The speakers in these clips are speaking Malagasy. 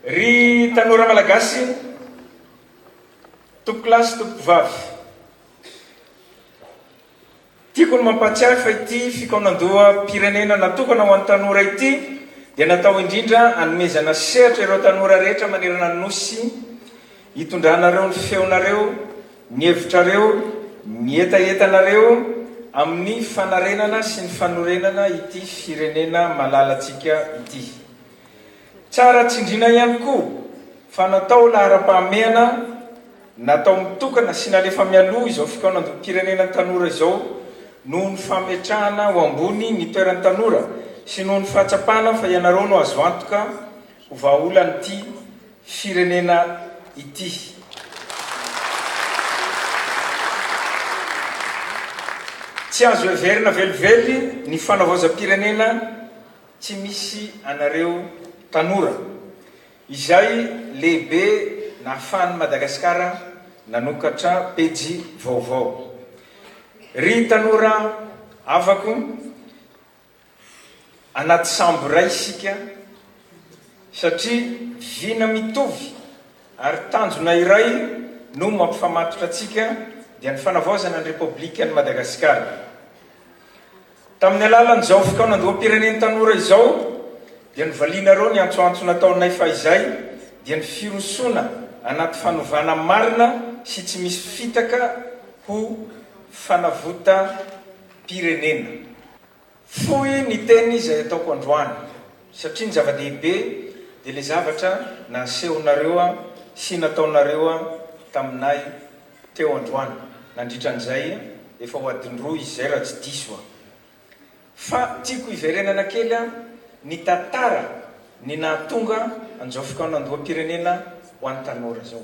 Ry tanora malagasy tompokolahy sy tompokovavy. Tiako ny mampahatsiahy fa ity fikaonandoham-pirenena natokana ho an'ny tanora ity dia natao indrindra anomezana sehatra ireo tanora rehetra manerana ny Nosy hitondranareo ny feonareo, ny hevitrareo, ny hetahetanareo amin'ny fanarenana sy ny fanorenana ity firenena malalantsika ity. Tsara tsindriana ihany koa fa natao laharam-pahamehana natao mitokana sy nalefa mialoha izao fikaonandoham-pirenena tanora izao noho ny fametrahana ho ambony ny toeran'ny tanora sy noho ny fahatsapana fa ianareo no azo antoka ho vahaolan'ity firenena ity. Tsy azo heverina velively ny fanavaozam-pirenena Tsy misy anareo tanora. Izay lehibe nahafahan'i Madagasikara nanokatra pejy vaovao. Ry tanora havako, anaty sambo iray isika satria vina mitovy ary tanjona iray no mampifamatotra antsika dia ny fanavaozana ny Repoblikan'i Madagasikara. Tamin'ny alalan'izao fikaonandoham-pirenen'ny tanora izao dia novalianareo ny antsoantso nataonay fahizay dia ny firosoana anaty fanovana marina sy tsy misy fitaka ho fanavotam-pirenena. Fohy ny teny izay ataoko androany satria ny zava-dehibe dia ilay zavatra nasehonareo sy nataonareo taminay Teo androany, nandritra an'izay efa ho adiny roa izay raha tsy diso aho. Fa tiako hiverenana kely aho nitantara ny nahatonga an'izao fikaonandoham-pirenena ho an'ny tanora izao.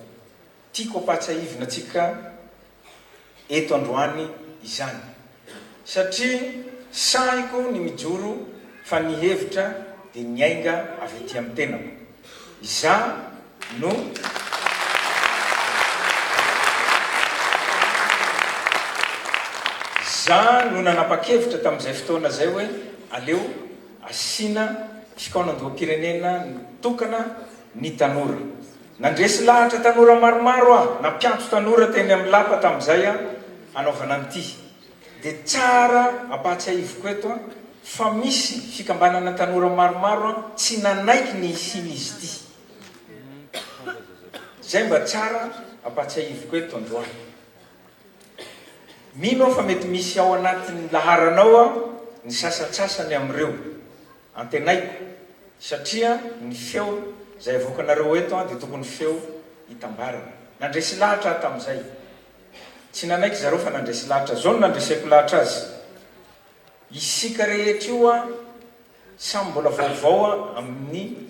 Tiako ampahatsiahivina antsika eto androany izany. Satria sahiko ny mijoro fa ny hevitra dia niainga avy aty amin'ny tenako. Izaho no Izaho no nanapa-kevitra tamin'izay fotoana izay hoe aleo asiana fikaonandoham-pirenena tokana ny tanora. Nandresy lahatra tanora maromaro aho na mpiantso tanora teny amin'ny lapa tamin'izay hanaovana an'ity. Dia tsara ampahatsiahiviko eto fa misy fikambanana tanora maromaro tsy nanaiky ny hisian'izy ity. Izay mba tsara ampahatsiahiviko eto androany. Mino aho fa mety misy ao anatin'ny laharanao ny sasantsasany amin'ireo. Antenaiko, satria ny feo izay avoakanareo eto dia tokony feo itambarana. Nandresy lahatra aho tamin'izay. Tsy nanaiky zareo fa nandresy lahatra. Izao no nandreseko lahatra azy, Isika rehetra io samy mbola vaovao amin'ny.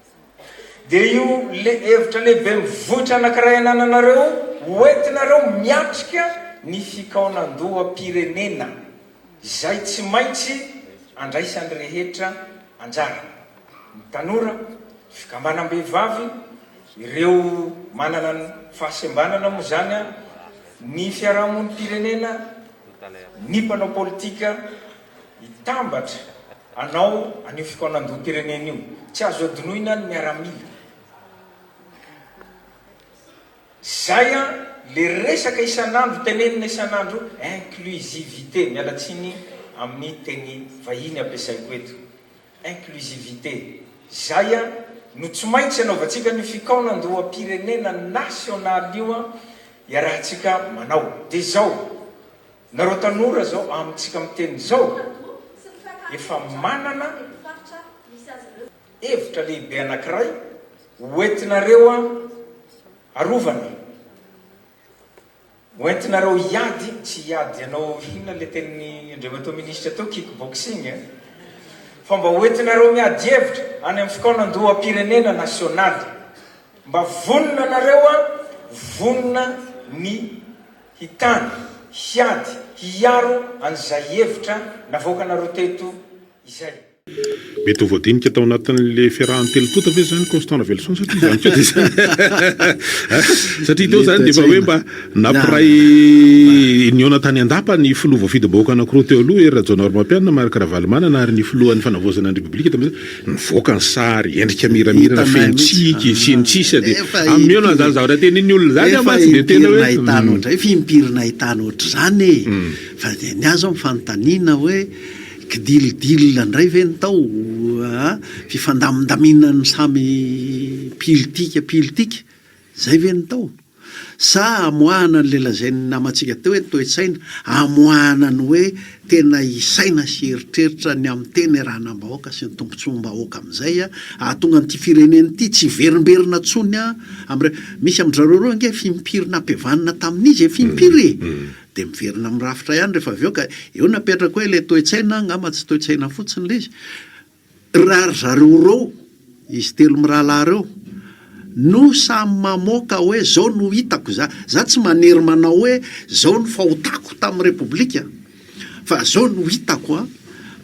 Dia io hevitra lehibe mivoitra anankiray anananareo hoentinareo miatrika ny fikaonandoham-pirenena izay tsy maintsy andraisan'ny rehetra anjara, ny tanora, ny fikambanam-behivavy, ireo manana ny fahasembanana moa izany, ny fiarahamonim-pirenena, ny mpanao politika, Hitambatra anao an'io fikaonandoham-pirenena io. Tsy azo adinoina ny miaramila. Zay an, le resaka isan'andro tenenina isan'andro io, inclusivité, miala tsiny amin'ny teny vahiny ampiasaiko eto. Inclusivité. Zay an, no tsy maintsy anaovantsika an'io fikaonandoham-pirenena nasionaly io an, iarahantsika manao. Dia zao. Nareo tanora zao amintsika miteny zao efa manana hevitra lehibe anakiray hoentinareo arovana, hoentinareo hiady, tsy hiady hanao inona le tenin'i Andriamatoa Ministra teo kick boxing eh, fa mba hoentinareo miady hevitra any amin'ny fikaonandoham-pirenena nasionaly, mba vonona nareo vonona ny. hitana, hiady, hiaro an'izay hevitra navoakanareo teto izay. Mety ho voadinika tao anatin'le fiarahan'ny telo tonta ve zany Constant Raveloson satria zany koa dia satria teo zany dia efa hoe mba nampiray nihaona tany an-dapa ny filoha voafidim-bahoaka anankiroa teo aloha, Hery Rajaonarimampianina, Marc Ravalomanana, ary ny filohan'ny fanavaozana ny Repoblika tamin'izay. Mivoaka ny sary, endrika miramirana feno tsiky, sy ny sisa dia amieo na izany zavatra tenenin'ny olona izany aho mantsy dia tena hoe. Efa impiry nahitana ohatr'izay, efa impiry nahitana ohatr'izany e! Fa dia ny ahy izao ny fanontaniana hoe kidil dil indray ve ny tao a! fifandamindaminan'ny samy mpiolitika mpiolitika. Izay ve no tao? Sa amoahana an'ilay lazain'ny namantsika teo hoe ny toe-tsaina, amoahana ny hoe tena hisaina sy hieritreritra ny amin'ny tena irahanam-bahoaka sy ny tombontsoam-bahoaka amin'izay hahatonga an'ity firenena ity tsy hiverimberina intsony amin'ireo. Misy amin-drizareo ireo ange fimpiry nampihavanina tamin'izy e, fimpiry e! Mm-hmm. Dia miverina amin'ny rafitra ihany rehefa avy eo ka eo napetrako hoe ilay toe-tsaina angamba tsy toe-tsaina fotsiny ilay izy. Raha ry zareo roa, izy telo mirahalahy ireo, no samy mamoaka hoe izao no hitako za, za tsy manery manao hoe izao no fahotako tamin'ny Repoblika fa izao no hitako an,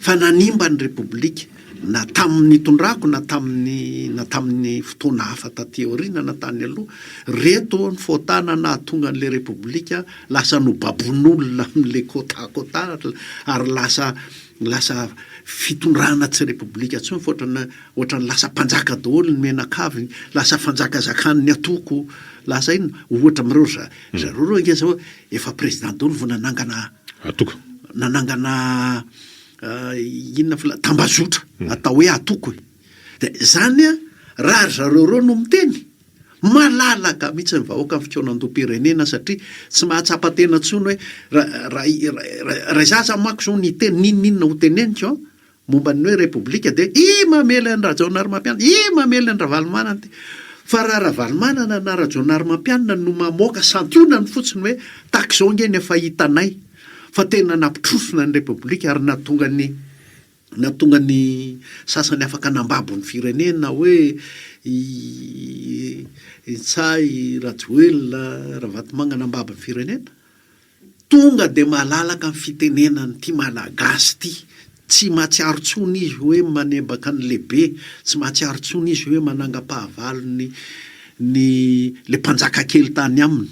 fa nanimba ny Repoblika na tamin'ny nitondrako na tamin'ny na tamin'ny fotoana hafa taty aoriana na tany aloha, ireto ny fôtana nahatonga an'ilay Repoblika lasa nobabon'olona amin'ilay côte à côte ary lasa Ny lasa fitondrana tsy repoblika intsony fa ohatrana ohatran'ny lasa mpanjaka daholo ny menakavy, lasa fanjakazakan'ny atoko, lasa inona, ohatra amin'ireo ry za- ry zareo ireo ange zao efa président daholo vao nanangana Atoko. nanangana inona fila- tambazotra atao hoe atoko e. Dia zany raha ry zareo ireo no miteny Malalaka mihitsy ny vahoaka amin'ny fikaonandoham-pirenena satria tsy mahatsapa tena intsony hoe raha izaho aza manko izao niteny n'inon'inona ho teneniko an, momba ny hoe repoblika dia i mamely an'i Rajaonarimampianina, i mamely an'i Ravalomanana ity. Fa raha Ravalomanana na Rajaonarimampianina no mamoaka santionany fotsiny hoe tahaka izao ange ny efa hitanay fa tena nampitrosona ny repoblika ary nahatonga ny Nahatonga ny sasany afaka nambabo ny firenena hoe i Ntsay, i Rajoelina, Ravatomanga nambabo ny firenena. Tonga dia malalaka ny fitenenan'ity Malagasy ity. Tsy mahatsiaro intsony izy hoe manebaka ny lehibe, tsy mahatsiaro intsony izy hoe manangam-pahavalo ny ny ilay mpanjaka kely tany aminy.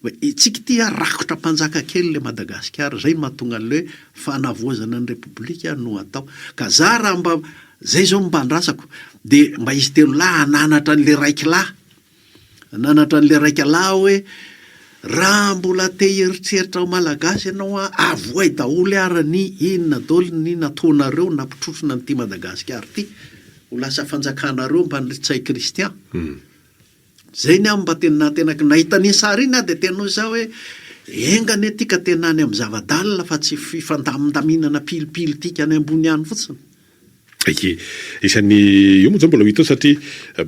Oe itsika ity a rakotra mpanjaka kely le Madagasikara zay no mahatonga anle fanavoazana ny repoblika no atao ka za raha mba zay zao mba andrasako de mba izy telo lahy ananatra anle raiky lahy ananatra anle raika lahy oe raha mbola te hieritreritra ho malagasy ianao a avoay daholo ara ny inona daoly ny nataonareo nampitrotrona an'ity Madagasikara ity ho lasa fanjakanareo mba an'ry Ntsay Christian Zay ny ahy mba teny nahantenako nahita an'iny sary iny aho dia teny hoy za hoe enga anie tika tena any amin'ny zava-dalina fa tsy fifandamindaminana pilipily tika any ambony any fotsiny. Eke. Isan'ny io moa zao mbola ho hita eo satria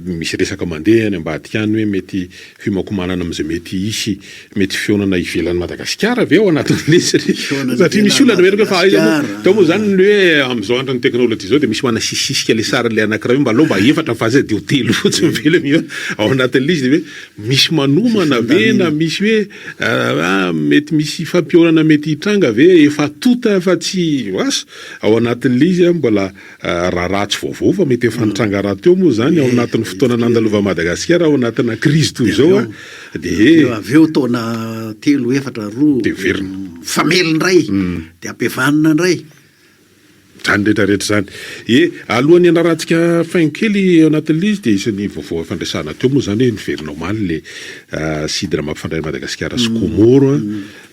misy resaka mandeha any ambadika any hoe mety fihomakomanana amin'izay mety hisy Mety fihaonana ivelan'i Madagasikara ve ao anatin'ny lesy ry? Satria misy olona noheloka hoe fa aiza moa? Tao moa izany ny hoe amin'izao andron'ny teknolojia izao dia misy manasisisika ilay sarin'ilay anankiray hoe mba aleo mba efatra fa aiza dia ho telo fotsiny ve ilay mihaona ao anatin'ny lesy dia hoe misy manomana ve na misy hoe ah, mety misy hifampihaonana mety hitranga ve efa tonta fa tsy asa ao anatin'ny lesy mbola Raharaha tsy vaovao fa mety efa nitranga rahateo moa izany ao anatin'ny fotoana nandalovan'i Madagasikara ao anatina krizy toy izao a. Dia he. Dia avy eo taona telo, efatra, roa. Dia miverina. Mifamely indray. Dia ampihavanina indray. Izany rehetra rehetra izany. Ie, alohan'ny hanarahantsika faingo kely ao anatin'ilay izy dia isan'ny vaovao efa niresahana teo moa izany hoe niverina omaly ilay sidina mampifandray an'i Madagasikara sy Comore a.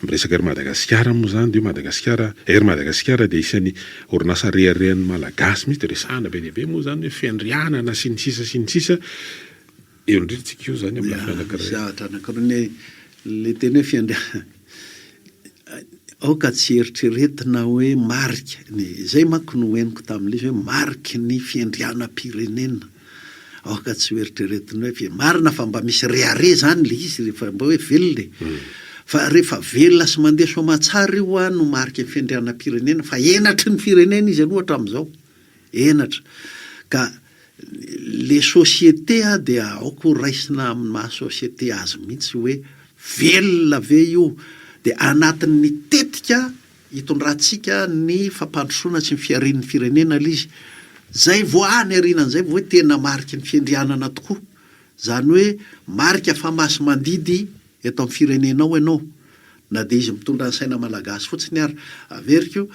Miresaka Air Madagasikara moa izany dia hoe Madagasikara, Air Madagasikara dia isan'ny. Orinasa reharehan'ny Malagasy mihitsy resahana be dia be moa izany hoe fiandrianana sy ny sisa sy ny sisa, eo indrindra tsika eo izany amin'ny lafiny anankiray. Misy zavatra anankiroa ny ilay teny hoe fiandrianana aoka tsy eritreretina hoe marika ny, izay manko no henoko tamin'ilay izy hoe mariky ny fiandrianam-pirenena. Aoka tsy ho eritreretinao hoe ve marina fa mba misy rehareha izany ilay izy rehefa mba hoe velona e. Fa rehefa velona sy mandeha soa aman-tsara io ho'a no mariky ny fiandrianam-pirenena fa henatry ny firenena izy aloha hatramin'izao. Henatra. Ka ilay société dia aoka ho raisina amin'ny maha société azy mihitsy hoe velona ve io dia anatin'ny tetika Hitondrantsika ny fampandrosoana sy ny fiharian'ny firenena aloha izy. Izay vao any aoriana an'izay vao hoe tena mariky ny fiandrianana tokoa. Izany hoe marika fa masi-mandidy eto amin'ny firenenao ianao. Na dia izy mitondra ny saina malagasy fotsiny ary. Averiko,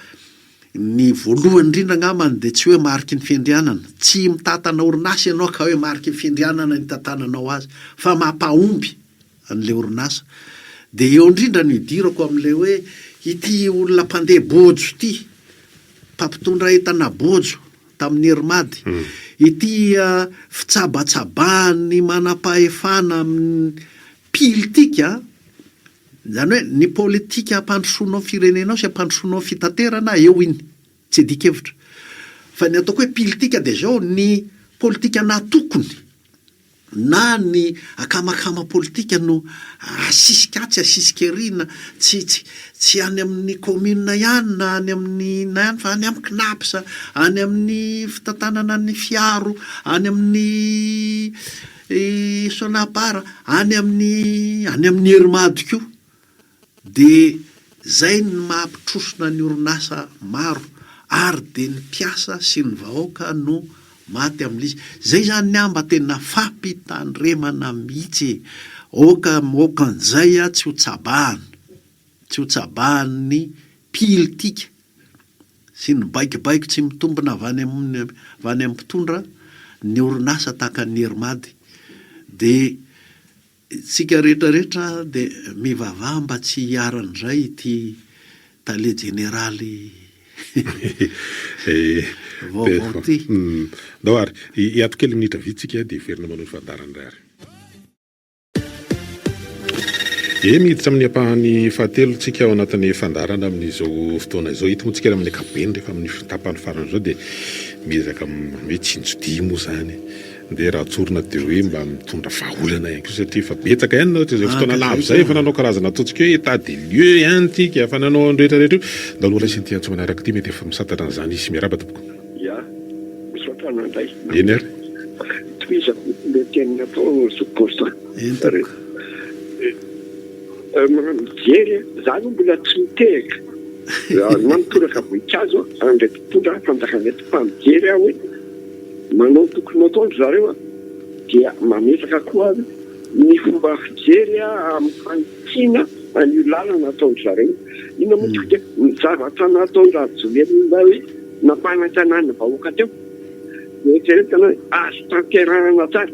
ny voalohany indrindra angambany dia tsy hoe mariky ny fiandrianana. Tsy mitantana orinasa ianao ka hoe mariky ny fiandrianana ny hitantananao azy. Fa mampahomby. an'ilay orinasa. Dia eo indrindra no idirako amin'ilay hoe ity olona mpandeha bojo ity, mpampitondra entana bojo tamin'ny Irmady, ity fitsabatsabahan'ny manampahefana amin'ny pilitika, izany hoe ny politika ampandrosoanao ny firenenao sy ampandrosoanao ny fitaterana, eo iny, tsy adikevitra. Fa ny ataoko hoe pilitika dia izao, ny politika natokony. na ny akamakama politika no asisika atsy asisika ery na tsy tsy tsy any amin'ny kaominina ihany na any amin'ny inona ihany fa any amin'ny CNAPS, any amin'ny fitantanana ny fiaro, any amin'ny Sonapar, any amin'ny any amin'ny Ermad koa. Dia zay ny maha mpitrosona ny orinasa maro ary dia ny mpiasa sy ny vahoaka no maty aminlizy zay zany ny ahy mba tena fampitandremana mihitsy e! Aoka maoka anzay a tsy ho tsabahana tsy ho tsabahan ny pilitika sy ny baikobaiko tsy mitombina avy any amin avy any amin mpitondra ny orinasa tahaka ny Hermady dia Tsika rehetra rehetra dia mivavaha mba tsy hiharany indray ity tale jeneraly vaovao ity. Ndao ary hiato kely minitra vitsy tsika dia hiverina manao ny fandaharana indray ary. Eny hiditra amin'ny ampahany fahatelo tsika ao anatin'ny fandaharana amin'izao fotoana izao. Eto moa tsika amin'ny ankapobeny rehefa amin'ny tapany farany izao dia miezaka mitsinjo-dia moa izany. Dia raha tsorina dia hoe mba mitondra vahaolana ihany koa satria efa betsaka ihany nareo tamin'izay fotoana lava izay efa nanao karazana ataontsika hoe état des lieux ihany isika efa nanao an'io rehetra rehetra io. Ndao aloha raisina ity antso manaraka ity mety efa misantatra an'izany hisy. Miarahaba tompoko. Ya, misaotra anao indray. Eny ary. Tohizako ilay teny nataon'i Zokibosa. Eny tompoko. Mijery a, za aloha mbola tsy mitehaka na mitoraka voninkazo aho, ary ndray mpitondra fanjakana eto fa mijery aho hoe. Manao tokony ho ataon-dry zareo a, dia mametraka koa ny fomba fijery amin'ny fanitsiana an'io lalana ataon-dry zareo. Inona moa tokoa dia ny zavatra nataon-dRajoelina hoe nampanantenaina ny vahoaka teo? Eritreretana hoe azo tanterahana tsara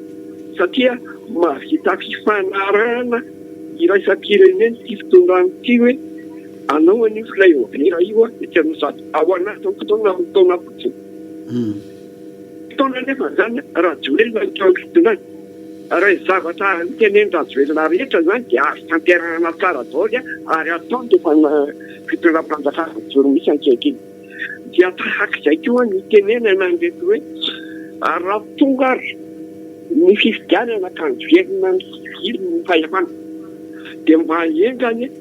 satria mahavita fifanarahana iraisam-pirenena ity fitondrana ity hoe anao anio flyover io etsy Anosizato ao anatin'ny fotoana roa taona fotsiny. Mpitondra anefa izany Rajoelina no toa fitondran ary ny zavatra notenenin Rajoelina rehetra izany dia azo tanterahana tsara daoly ary ataony dia efa fitondram-panjakana mijoro mihitsy ankehitriny dia tahaka izay koa ny tenenana an'ireto hoe ary raha tonga ary ny fifidianana ka niverina ny fahefana dia mba enga anie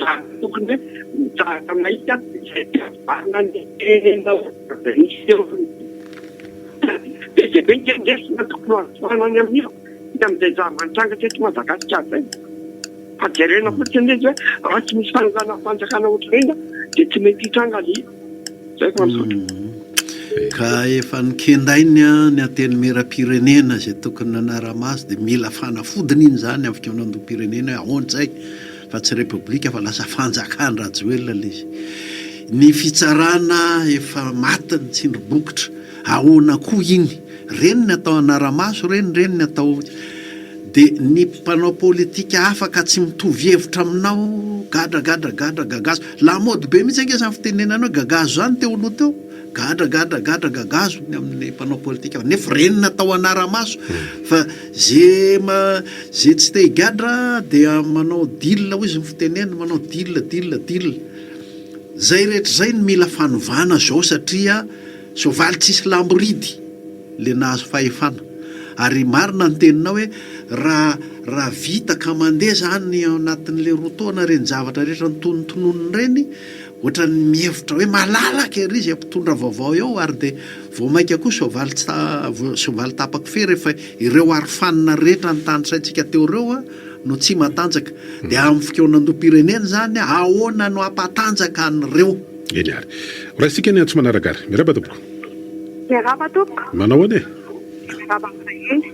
Zah tokony hoe mitsahatra maika izay tsy azo valina ny tenenao izay miseho ny be dia be ny herin-dresona tokony ho azo tohanana any amin'io sy amin'izay zava-nitrangatra eto Madagasikara izay fa jerena fotsiny izy hoe raha tsy misy fanondranam-panjakana ohatran'iny dia tsy mety hitranga ilay izy. Ka efa nokendainy ny Antenimierampirenena izay tokony nanara-maso dia mila fanafodiny iny izany amin'ny fikaonandoham-pirenena hoe ahoana izay fa tsy Repoblika fa lasa fanjakan-dRajoelina ilay izy. Ny fitsarana efa maty ny tsindrim-bokotra, ahoana koa iny? Reny ny atao anaramaso reny reny ny atao de ny mpanao politika afaka tsy mitovy hevitra aminao gadra gadra gadra gagazo la mode be mihitsy ange zany fitenenana hoe gagazo zany teo aloha teo gadra gadra gadra gagazo ny amin'ny mpanao politika fa nefa reny ny atao anaramaso hmm. fa ze ma ze tsy te higadra dia manao deal hoy izy ny fitenenana manao deal deal deal zay rehetra zay ny mila fanovana zao satria Soavaly tsisy lamboridy le nahazo fahefana ary marina ny teninao hoe raha raha vita ka mandeha zany ao anatin'le roa taona reny zavatra rehetra notonontononiny reny ohatran'ny mihevitra hoe malalaka ery zay mpitondra vaovao eo ary de vao maika koa soavaly tsy soavaly tapaky fery efa ireo arofanina rehetra nitanisaintsika teo reo no tsy matanjaka de amin'ny fikaonandoham-pirenena zany ahoana no hampatanjaka an'ireo Eny ary. Horaisintsika ny antso manaraka ary. Miarahaba tompoko. Miarahaba tompoko. Manao ahoana e? Miarahaba amin'izay eny.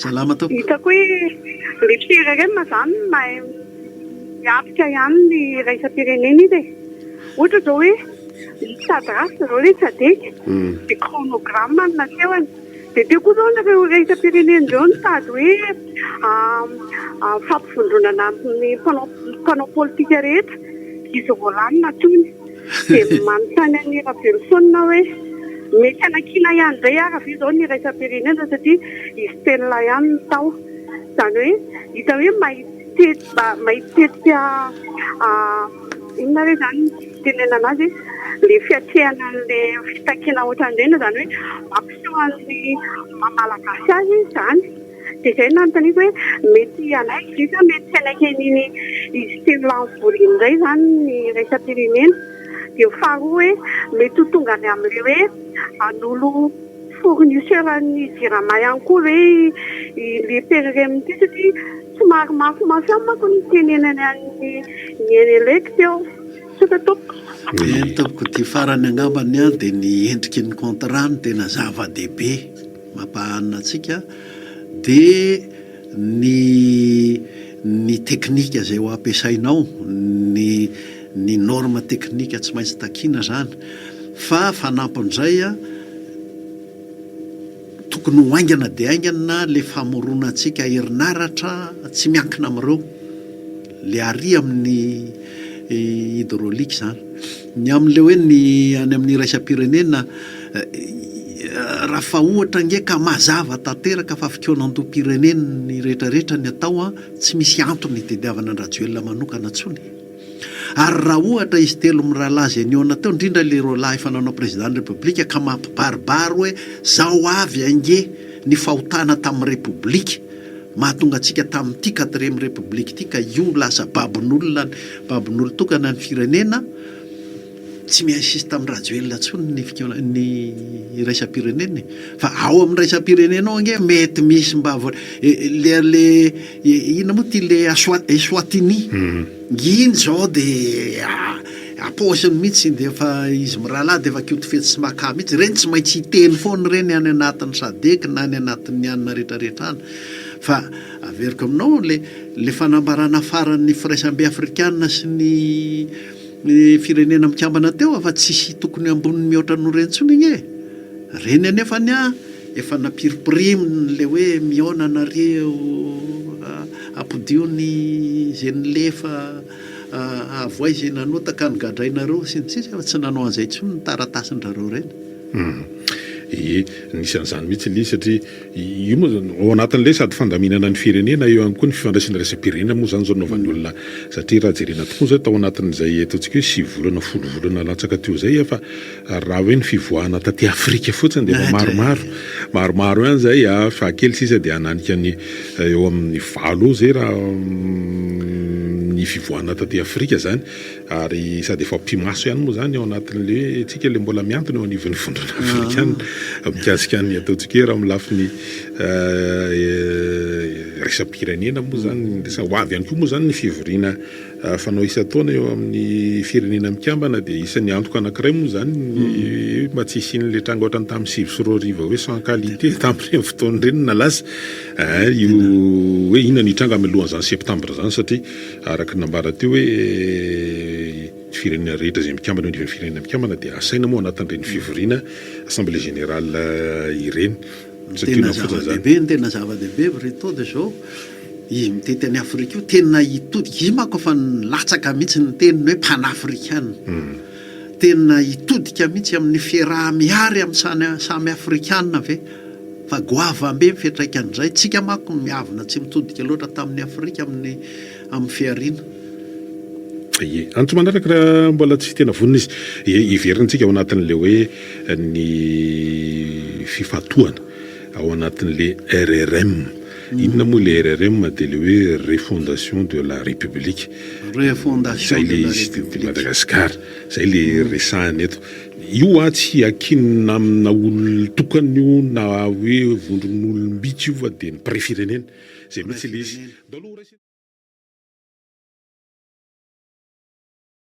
Salama tompoko. Hitako hoe ry firerenma zany mahay miatrika ihany ny iraisam-pirenena izy e. Ohatra zao hoe ny Sadras zao ilay tsy adika dia chronogramme no nasehony. Dia teo koa izao ireo raisampirenena ireo nitady hoe fampivondronana ny mpanao mpanao politika rehetra izy vao lany na tony. Dia manontany an'i Raveloson aho hoe mety hanakiana ihany indray ary ve izao ny iraisampirenena satria i Stella ihany no tao. Izany hoe hita hoe mahitsy mahitsy tetika Inona re zany ny fitenenana azy e? le fiatrehana anle fitakiana otranreny izany hoe mampiseho an'ny maha malagasy azy izy izany dia izay nanontaniako hoe mety hanaiky ve sa mety tsy hanaiky an'iny izy telo lahy mivory iny indray izany ny iraisam-pirenena dia faharoa hoe mety ho tonga any amin'ilay hoe hanolo fournisseur an'ny jirama ihany koa ve i le pere rem ity satria Somary mafimafy amiko manko ny tenenany an'i Neny Elect eo. Tsotra tompoko. Eny tompoko, ity farany angamba ny ahy dia ny endriky ny contrat no tena zava-dehibe mampahanina antsika dia ny ny teknika izay ho ampiasainao, ny ny norme teknika tsy maintsy takiana izany fa fanampin'izay an, Tokony ho haingana dia haingana le famoronantsika herinaratra tsy miankina amin'ireo, le arỳ amin'ny hydraulique izany. Ny amin'ilay hoe ny any amin'ny iraisam-pirenena, raha fa ohatra ange ka mazava tanteraka fa fikaonandoham-pirenena ny rehetrarehetra ny atao an, tsy misy antony hitediavana an-dRajoelina manokana intsony e! Ary raha ohatra izy telo mirahalahy izay nihaona teo, indrindra ilay roalahy efa nanao Prezidàn'ny Repoblika ka mampibaribary hoe zao avy ange ny fahotana tamin'ny Repoblika mahatonga antsika tamin'ity Quatrième République ity ka io lasa babon'olona ny babon'olon-tokana ny firenena, Tsy miinsiste tamin'i Rajoelina intsony ny fikaona ny iraisam-pirenena e! Fa ao amin'ny iraisam-pirenena ao ange mety misy mba voa le le inona moa ty le Eswa- Eswatini iny zao de ampaosiny mihitsy de efa izy mirahalahy de efa koto fetsy sy makà mihitsy, ireny tsy maintsy hiteny foana ireny any anatin'ny sadec na any anatin'ny anona rehetrarehetra any fa averiko aminao le le fanambarana faran'ny firaisambe afrikana sy ny Ny firenena mikambana teo afa tsisy tokony ambony mihoatra noho ireny tsony anie e! Ireny anefa anie an, efa nampiripiriny ilay hoe mihaona nareo ampodio ny izay nilefa avoay izay nanota ka nogadrainareo sy ny sisa efa tsy nanao an'izay tsony ny taratasin-drareo ireny. Hum, ie, nisy an'izany mihitsy ilay izy satria. Io moa zany ao anatin'ilay sady fandaminana ny firenena, eo ihany koa ny fifandraisana iraisam-pirenena moa zany zao nanaovan'ny olona satria raha jerena tokoa zay tao anatin'izay ataontsika hoe sivy volana folo volana latsaka teo zay efa raha hoe ny fivoahana taty Afrika fotsiny dia efa maromaro maromaro ihany zay a fahakely sisa dia hananika ny eo amin'ny valo eo zay raha ny fivoahana taty Afrika zany ary sady efa mpimaso ihany moa zany ao anatin'le hoe tsika le mbola miantona eo anivon'ny vondrona afrikana ah. mikasika ny atao tsikera amin'ny lafiny eh, eh, resa-pirenena moa zany resa ho avy ihany koa moa zany ny fivoriana eh, fanao isan-taona eo amin'ny firenena mikambana dia isan'ny antoka anankiray moa zany mm. mba tsy hisian'le tranga ohatrany tamin'ny sivy sy roa riva hoe sans qualité tamin'ireny fotoana ireny na lasa io hoe inona ny tranga milohan'izany septambra zany satria Araka ny nambara teo hoe ny firenena rehetra izay mikambana eo anivon'ny Firenena Mikambana dia asaina moa anatin'ireny fivoriana Assemblée Générale ireny. Ny tena zava-dehibe, ny tena zava-dehibe Brito dia izao, izy mitety an'i Afrika io tena hitodika, izy io manko efa nilatsaka mihitsy ny teniny hoe panafrikana. Tena hitodika mihitsy amin'ny fiaraha-mihary amin'ny samy Afrikana ve? Fa goavana be ny fiantraikan'izay. Tsika manko miavona tsy mitodika loatra tamin'ny Afrika amin'ny amin'ny fihariana. Ie. Antso manaraka raha mbola tsy tena vonona izy. Ie, heverintsika ao anatin'ilay hoe ny fifantohana ao anatin'ilay RRM. Inona moa ilay RRM dia ilay hoe Refondation de la République. Izay ilay izy teto Madagasikara. Izay ilay resahina eto. Io hoa tsy hiankinina amina olona tokana io na hoe vondron'olom-bitsy io fa dia ny mpirefirenena. Izay mihitsy ilay izy.